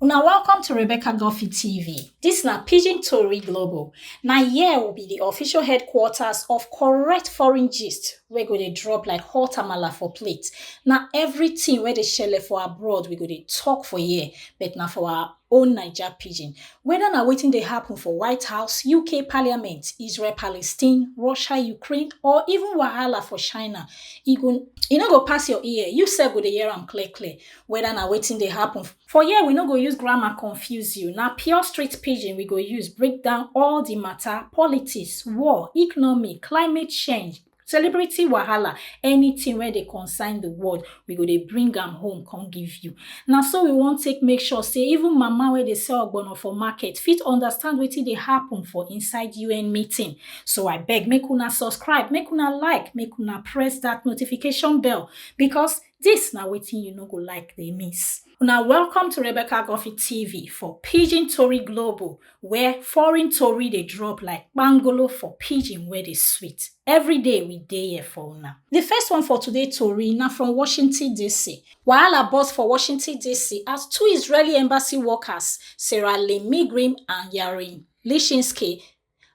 Una welcome to Rebecca Guffey TV. This na Pidgin Tori Global. Na here will be the official headquarters of correct foreign gist wey go dey drop like hot amala for plate. Na everything wey dey shele for abroad we go dey talk for here, but na for our own Naija pidgin. Whether na wetin dey happen for White House, UK Parliament, Israel Palestine, Russia Ukraine or even wahala for China, e go e no go pass your ear, you sef go dey hear am clear clear. whether na wetin dey happen. For here, we no go use grammar confuse you. Na pure street pidgin we go use break down all the matter, politics, war, economy, climate change, celebrity wahala, anything wey dey concern the world, we go dey bring am home come give you. Na so we wan take make sure say even mama wey dey sell ogbono for market fit understand wetin dey happen for inside UN meeting. So I beg make una subscribe, make una like, make una press that notification bell because This na wetin you no go like dey miss. Una welcome to Rebecca Guffey TV for Pidgin Tori Global where foreign tori dey drop like kpangolo for pidgin wey dey sweet. Every day we dey here for una. The first one for today tori na from Washington DC. Wahala burst for Washington DC as two Israeli embassy workers, Sarah Lynn Migrim and Yarin Lishinsky,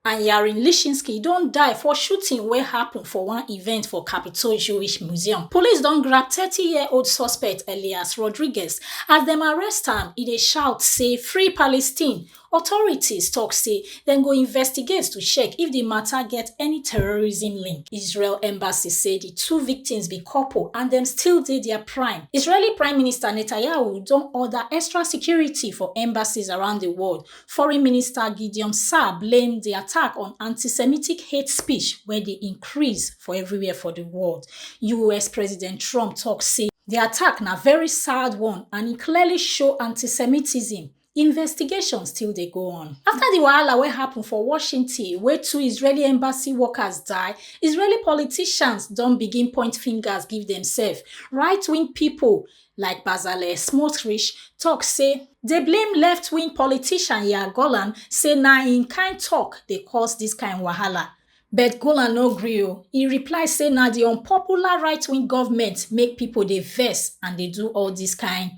and Yarin Lishinsky don die for shooting wey happen for one event for Capitol Jewish Museum. Police don grab 30-year-old suspect Elias Rodriguez. As dem arrest am, e dey shout say free Palestine. Authorities talk say dem go investigate to check if the matter get any terrorism link. Israel embassy say the two victims be couple and dem still dey their prime. Israeli Prime Minister Netanyahu don order extra security for embassies around the world Foreign Minister Gideon Saar blame di attack on anti-Semitic hate speech wey dey increase for everywhere for di world. US President Trump tok say di attack na very sad one and e clearly show anti-Semitism. Investigation still dey go on. Afta di wahala wey happun for Washington wey two Israeli embassy workers die, Israeli politicians don begin point fingers give demsef. Right-wing pipo like bazale smotrich tok say dey blame left-wing politician yair golan say na im kain tok dey cause dis kain wahala but golan no gree o e reply say na di unpopular right-wing goment make pipo dey vex and dey do all dis kain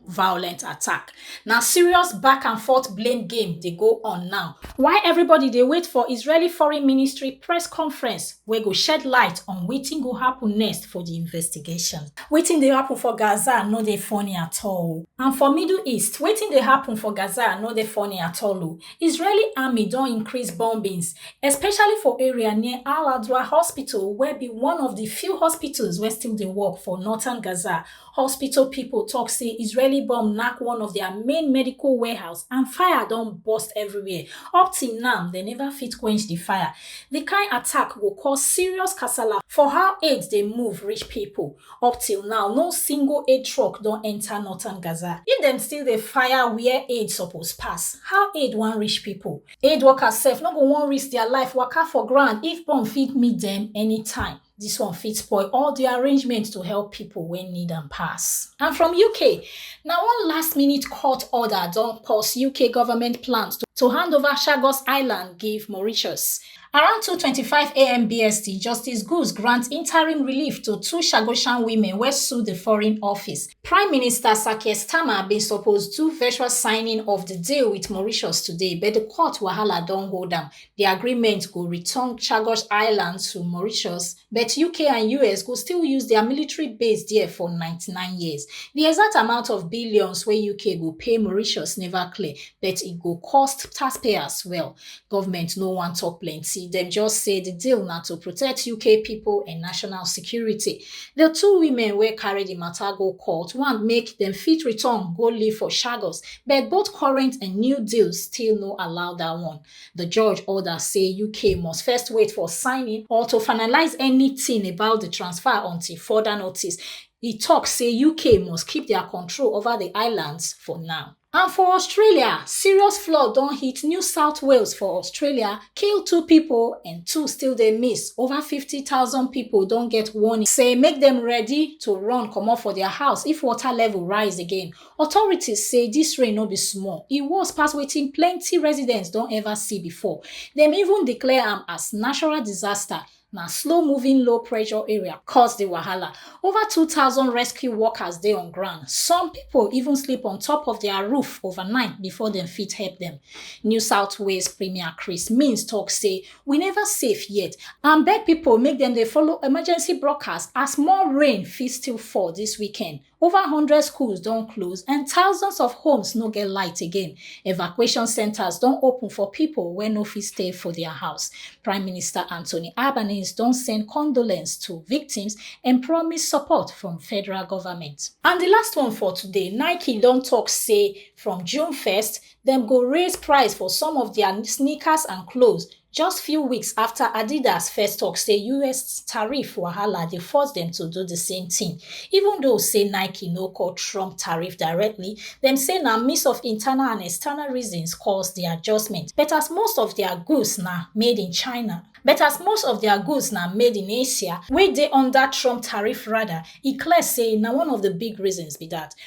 violent attack. Na serious back and forth blame game dey go on now, while everybody dey wait for Israeli Foreign Ministry press conference wey go shed light on wetin go happen next for di investigation. Wetin dey happen for Gaza no dey funny at all. And for Middle East, wetin dey happen for Gaza no dey funny at all o. Israeli army don increase bombings, especially for area near Al-Adwa Hospital wey be one of di few hospitals wey still dey work for northern Gaza, Hospital pipo tok say Israeli bomb knack one of dia main medical warehouse and fire don burst everywhere. Up till now, dem neva fit quench di fire. Di kain attack go cause serious kasala for how aid dey move reach pipo. Up till now, no single aid truck don enta northern Gaza. If dem still dey fire wia aid suppose pass, how aid wan reach pipo? Aid workers sef no go wan risk dia life waka for ground if bomb fit meet dem anytime. Dis one fit spoil all di arrangement to help pipo wey need am pass. And from UK, na one last minute court order don pause UK government plans to to hand over Chagos Island give Mauritius. Around 2:25am BST, Justice Guz grant interim relief to two Chagosian women wey sue di Foreign Office. Prime Minister Sir Keir Starmer bin suppose do virtual signing of di deal wit Mauritius today, but di court wahala don hold am. Di agreement go return Chagos Island to Mauritius, but UK and US go still use dia military base there for 99 years. Di exact amount of billions wey UK go pay Mauritius neva clear, but e go cost taxpayers well. Government no wan tok plenty, dem just say di deal na to protect UK pipo and national security. Di two women wey carry di mata go court want make dem fit return go live for Chagos, but both current and new deals still no allow dat one. The judge order say UK must first wait for signing or to finalize anything about the transfer until further notice. He tok say UK must keep their control over the islands for now. And for Australia, serious flood don hit New South Wales for Australia, kill two people and two still dey miss. Over 50,000 people don get warning say make dem ready to run comot for their house if water level rise again. Authorities say dis rain no be small, e worse pass wetin plenty residents don ever see before. Dem even declare am as natural disaster na slow moving low pressure area cause di wahala. Over 2,000 rescue workers dey on ground. Some pipo even sleep on top of dia roof overnight before dem fit help dem. New South Wales Premier Chris Minns tok say, We neva safe yet and beg pipo make dem dey follow emergency broadcast as more rain fit still fall dis weekend. Over 100 schools don close and thousands of homes no get light again. Evacuation centers don open for people wey no fit stay for their house. Prime Minister Anthony Albanese don send condolence to victims and promise support from federal government. And the last one for today, Nike don talk say from June 1st, dem go raise price for some of their sneakers and clothes just few weeks afta adidas first tok say us tariff wahala dey force dem to do di same tin even though say nike no call trump tariff directly dem say na mix of internal and external reasons cause di adjustment but as most of dia goods na made in china but as most of dia goods na made in asia wey dey under trump tariff radar e clear say na one of di big reasons be dat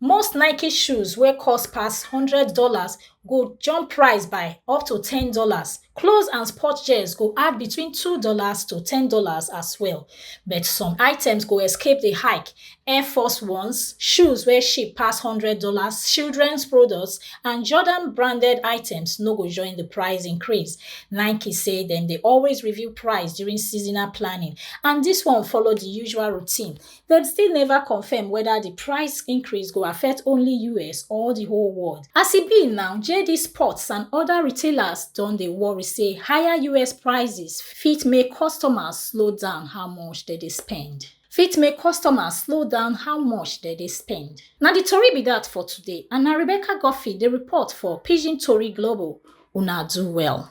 most nike shoes wey cost pass one hundred dollars go jump price by up to ten dollars clothes and sport gears go add between two dollars to ten dollars as well but some items go escape the hike air force ones shoes wey cheap pass one hundred dollars childrens products and jordan branded items no go join the price increase nike say dem dey always review price during seasonal planning and dis one follow di usual routine Dem still neva confirm weda di price increase go affect only us or di whole world. As e be now, JD Sports and oda retailers don dey worry say higher us prices fit make customers slow down how much dem dey spend. fit make customers slow down how much dem dey spend. Na di tori be dat for today and na Rebecca Guffey dey report for Pidgin Tori Global. Una do well.